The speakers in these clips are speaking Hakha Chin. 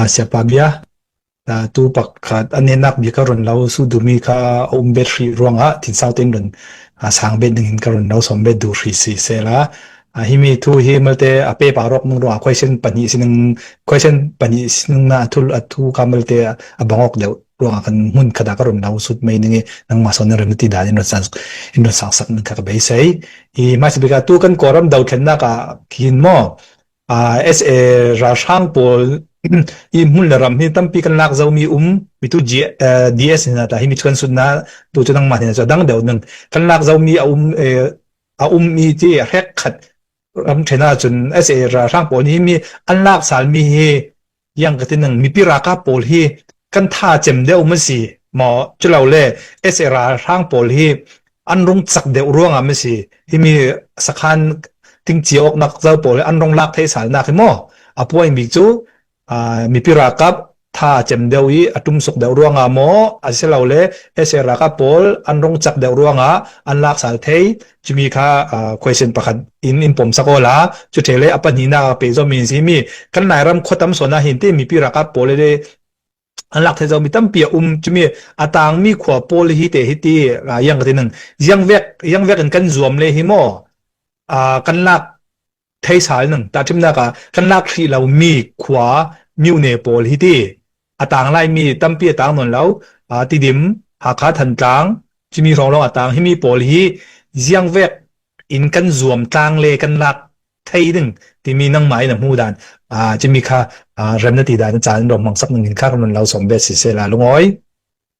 Ah siapa bia? Ah tu pakhat an enak bia ka run lo su dumi kha a um bet hrih ruangah tin sau tin run ah sang bet ding in ka run lo som bet du hrih si se la. Ah hi mi thu hi malte a pe pa rok nung ruang question pahnih sinung question pahnih sinung na athul athu ka malte a bangok deu ruang kan mun kada ka run lo sut mai ningi nang ma son rim ti dan in ran san in ran sang sak ka be sei i ma si bika tu kan koram dau thlen na ka kin mo SA ralhrang pawl i hmun le ram hi tampi kan lak zomi um mitu DS hna ta hi mi kan sut na tu cu nangmah hna cu dang deu nung kan lak zomi a um a um mi ti hrek khat ram ṭhen ahcun SA ralhrang pawl hi mi an lak salmi hi Tiangkatin an mipi ralkap pawl hi kan tha cem deuh ma si maw culo le SA ralhrang pawl hi an rung chak deuh ruangah ma si himi sakhan tingcia awknak zo pawl hi an rung lak thei salnak hi maw a puai mi cu mipi ralkap tha cem deuh i a tum suk deuh ruangah maw asilo le SA ralkap pawl an rung chak deuh ruangah an lak sal thei Cumi kha uh, question pakhat in in pom sakola cu thele apa ni na pe zo min si mi kan lai ram khotam sona hin te mi pi raka pole de anlak the zo mi tampi um cumi atang mi khwa pole hi te hi ti yang ka tin yang vek yang vek in kan zuam le hi mo uh, kan lak theisal nung ta timnak ah kan lak hri lo mi khua myune pawl hi ti a tang lai mi tampi a tang non lo a tidim hakha thantlang chimi rong rong a tang himi pawl hi ziang vek in kan zuam tlang le kan lak thei ding timi nang mai na mu dan a chimi kha rem na ti dan chan rom mang sak nung in kha ron lo som be si se la lungoi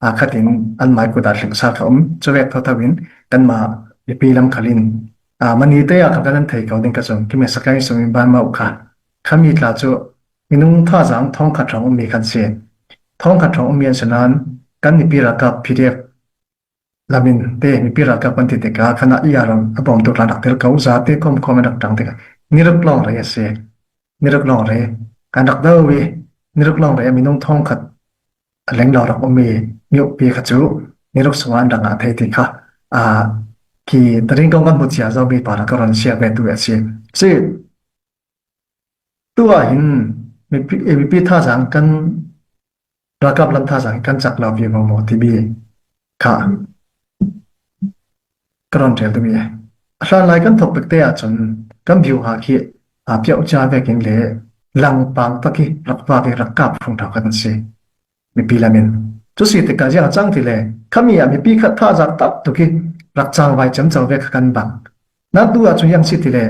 aa khat in an mah kut ah hringsa kha um. Cuvek thotho in kan mah mipi lam khalin. Ah mani te ah kan kan thei kau ding ka zong kimi sakai sumi ban mau kha. Kami tla cu minung tha zang thong kha trong mi kan si. Thong kha trong mi an sinan kan ni pira ka PDF lamin te mi pira ka pan ti te ka khana iaram abom tu la dak tel kau za te kom kom dak tang te ka niruk long re se niruk long re kan dak do wi niruk long re minung thong khat A lenglawng rak ummi miukpi kha cu niruk sungah an dang ah a thei ti kha hi rinkong kan hmu cia zomi pa rak ka ron share ve tu a si. Si, tu ah hin mipi thazang kan ralkap lam thazang kan chak lo vi maw maw timi Kha ka ron ṭhen tumi a. A hlan lai kan thok te ahcun kan view ha khi a piao cia vekin le langpang tak i rak va ve rak kap phung thau kan si. Mipi lamin. Cu si tikah ziang cang ti le kami ah mipi khat tha zak tak tuki rak cang vai cem cang ve kha kan bang. Na tu ahcun yang si ti le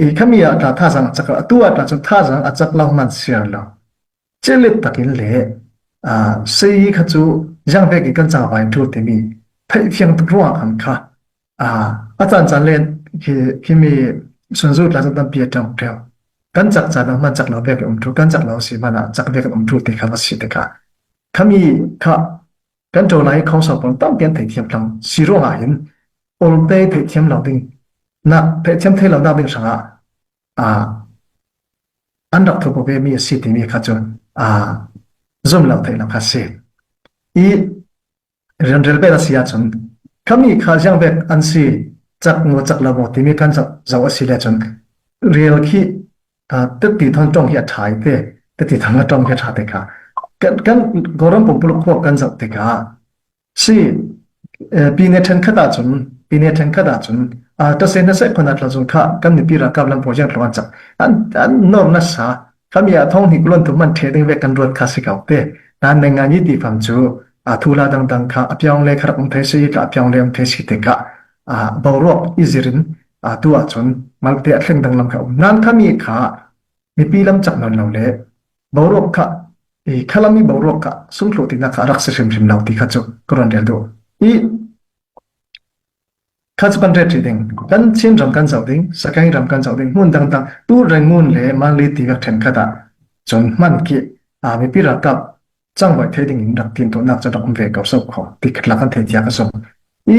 i kami ah tla tha zang a cak atu ah tla cun tha zang a cak lo man siar lo. celet takin le sayi kha cu zangvek i kan cangva in ṭhu timi theihfiang tuk ruangah kha a caancaan len hi mi sunzu tlazan tampi a ṭang ṭheo kan cak caan ah hman cak lo vek um ṭhu kan cak lo si hmana cak vek um ṭhu ti kha va si te kha khami kha kan ṭo lai kho sau pon tampi an theithiam tlang si ruangah hin ol te theithiam lo ding nak theithiam thei lo nak ding hrangah An rak thurhpo vemi a si timi kha cu zumhlo theihnak kha a si. I rianrel bel a si ahcun kami kha ziangvek an si, cak maw cak lo maw timi kan zoh a si le cun rel khi teti thon tong hi a ṭha i te teti thon la tong hi a ṭha te kha kan Kawlram pumpuluk huap kan zoh tikah Si, pine ṭhenkhat ahcun pine ṭhenkhat ahcun ṭase hnaseh khon ah thlazung khah kan mipi ralkap lampo hian thlawng an cak an an nawr nasa kami ah thong hnik luan tum an ṭhe ding ve kan ruat kha si ko te nan neng ngan i ti fam cu thula dangdang kha apiang le kharak um thei si ka apiang le um thei si te ka boruak izirin tu ahcun malte athleng dang lam kha um nan kami kha mipi lam chak non lo le boruak kha i khalami boruak kha sungthlawh tinak kha a rak si hrimhrim lo ti kha cu ka ruan rel duh i kha cu kan ret ṭi ding kan chin ram kan zoh ding sakai ram kan zoh ding hmun dangdang tu rengun le manli ti ka ṭhen khat ah cun man ki a mipi ralkap changbai thei ding in rak tin to nak cha rak um ve ko so kho ti khat la kan thei tia ka som i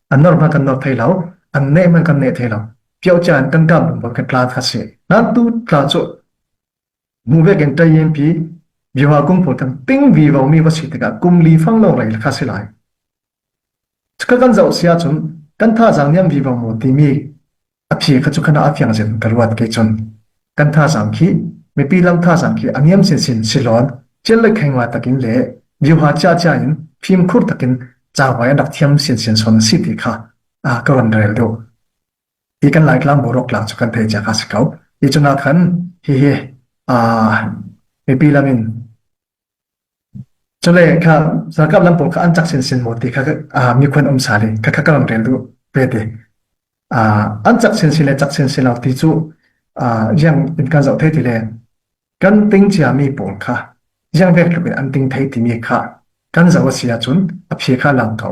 an nor hmanh kan nor thai lo an neh hmanh kan neh thai lo piao cha in kan kam bor kan tla kha si na tu tla chu mu ve ken tai yin pi bi wa kum pho tang ting vi vau mi va si tika kum li fang lo rai kha si lai ka kan zau sia chun kan tha jang niam vi vau mo ti mi A phi kha cu khana a fiang zin ka ruat ke cun kan thazaang khi mipi lam thazaang khi a ngiam sin sin silawn cil le khengla takin le liuha cia cia in phim khur takin cawai an rak thiam sin sin son si ti kha a ka ron rel deuh i kan lai tlang borok tlang chu kan thei cha ka si ko i chuna khan hi hi a mipi lamin Cule kha ralkap lam pawl kha an cak sinsin maw ti kha ah mi khuan um sale kha kha ka run rel du ve te. Ah an cak sinsin le cak sinsin lo ti cu ah yang in kan zoh thei ti le kan ting cia mi pawl kha yang vek tluk in an ting thei timi kha kan zoh a si ahcun a phe kha lang ko.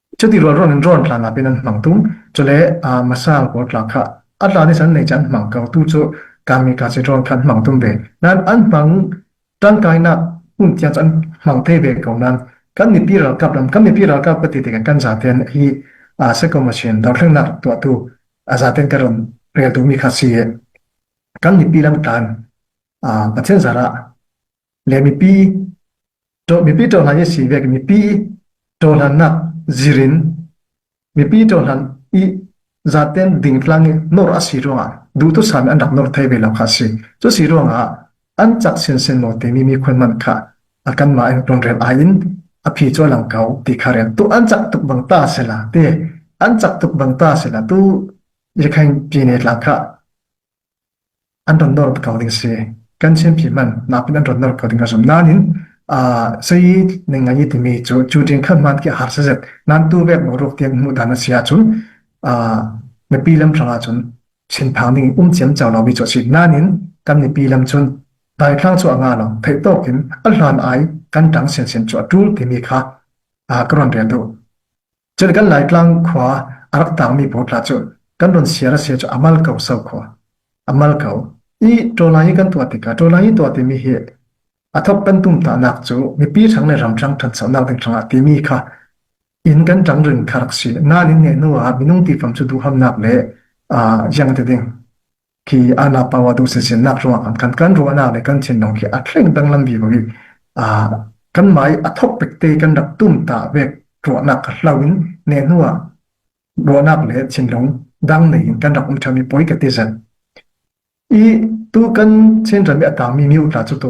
Cuti rualruan in rawn tlan lakin an hmang tung. Cule ah masang pawl tla kha a tlan i san nei cun an hmang ko tu cu kami ka si rawn khan hmang tum ve. Nan an hmang tangkainak hmun tiang cu an hmang te ve ko nan kan mipi ralkap ram kan mipi ralkap ka ti tikan kan zaten hi a seko machine dorthlengnak tuahtu a zaten ka ron rel tu mi kha si kan mipi lam tlan a pathian zara le mipi mipi cohlan i sii vek mipi cohlannak zirin mipi cohlan i zaten dingtlang i nor a si ruangah duhtu sami an rak nor thai ve lo kha si cu si ruangah an chak sin sin mo timi mi khun man kha akan ma in run rel ai in aphi cho lang kau ti kha rel tu an chak tuk bang ta se la te an chak tuk bang ta se la tu ye khain pi ne tlang kha an ron nawr ko ding si. Kan Chinphi man nakin an ron nawr ko ding a zum. Nain, sayi ning ngai timi cu cu ding khan man ki har se zet. Nan tu vek no ruk tiang mu dan a sia cu. Nipi lam hranga cun Chin phang ning um chiam chau lo mi cho si. Nain, kan nipi lam cun dai thang chu anga lo. Thei tokin alhan ai kan tang sen sen chu a tul timi kha ka ron rel du. Cun kan Laitlang khua a rak tangmi pawl tla cu kan ron siar a sia cu a mal ko so khua. A mal ko. I ṭawlai i kan tuah tikah ṭawlai i tuah timi hi a thok kan tumtahnak cu mipi ṭhang le ram ṭhang ṭhanchonak ding hrangah timi kha inn kan ṭang ring kha rak si. Nain inn ngeih hnuah minung tifam cu duhamnak le aa yang te ding. khi ana pawa du se sin nak ruang an kan kan ruana le kan chin nong khi a thleng danglam vi ko hi a kan mai a thok pek te kan rak tum ta vek ruanak hlau in ne nuwa ruanak le chin long dang nei in kan rak um thami poi ka te zan i tu kan chen ran mi atang mi miu tla chu to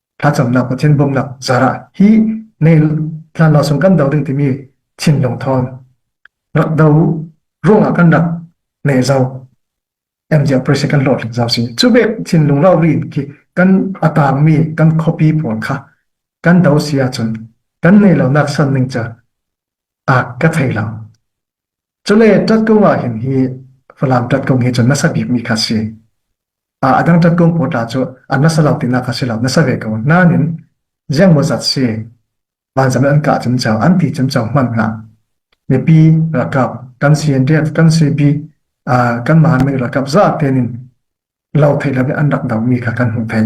thlacamnak Pathian bawmhnak zarah hi nei hlan lawng kan do ding timi thinlung thawn rak do ruangah kan rak nei zau MJ pressure kan lot ling zau si chu bek thinlung rau rin khi kan atang mi kan copy pawl kha kan do sia chun kan nei lo nak san ning cha a ka thei lo Cule ṭat kung ahhin hi Falam ṭat kung hi cun nasa bikmi kha a si. A dang ṭat kung pawl tla cu a nasa lo tinak kha si lo, nasa ve ko. Nain, ziang maw zat si, vanzam an kah cemceo, an ti cemceo hman hna. Mipi rakap, kan CNDF, kan CP, kan mahanmi rakap zate nin lo thei lo in an rak domi kha kan hmu thei.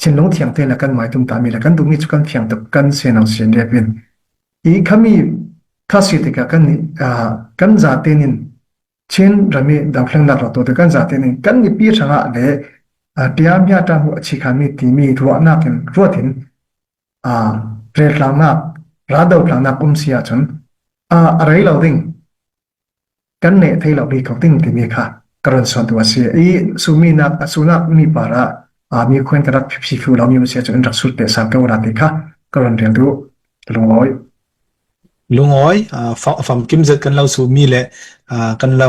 thinlung thiang te le kan mai tum ta mi le kan duh mi chu kan thiang tuk kan senang sin le pin i khami thasi tika kan kan zate nin chin rami danghleng nak ro to te kan zate nin kan ni pi thanga le tia mya ta hu achi khan mi ti mi ruwa nak in ruatin a re tlang nak ra do tlang nak um sia chun a arei lo ding Kan neh thei lo rih ko ding timi kha ka run suantu a si. I suminak a sunak mi par ah mi khuan ka rak phi thlu lomi a si cu in rak sut te sang ko ra ti kha ka run rel tu lungawi. Lungawi fam kim zet kan lo sumi le kan lo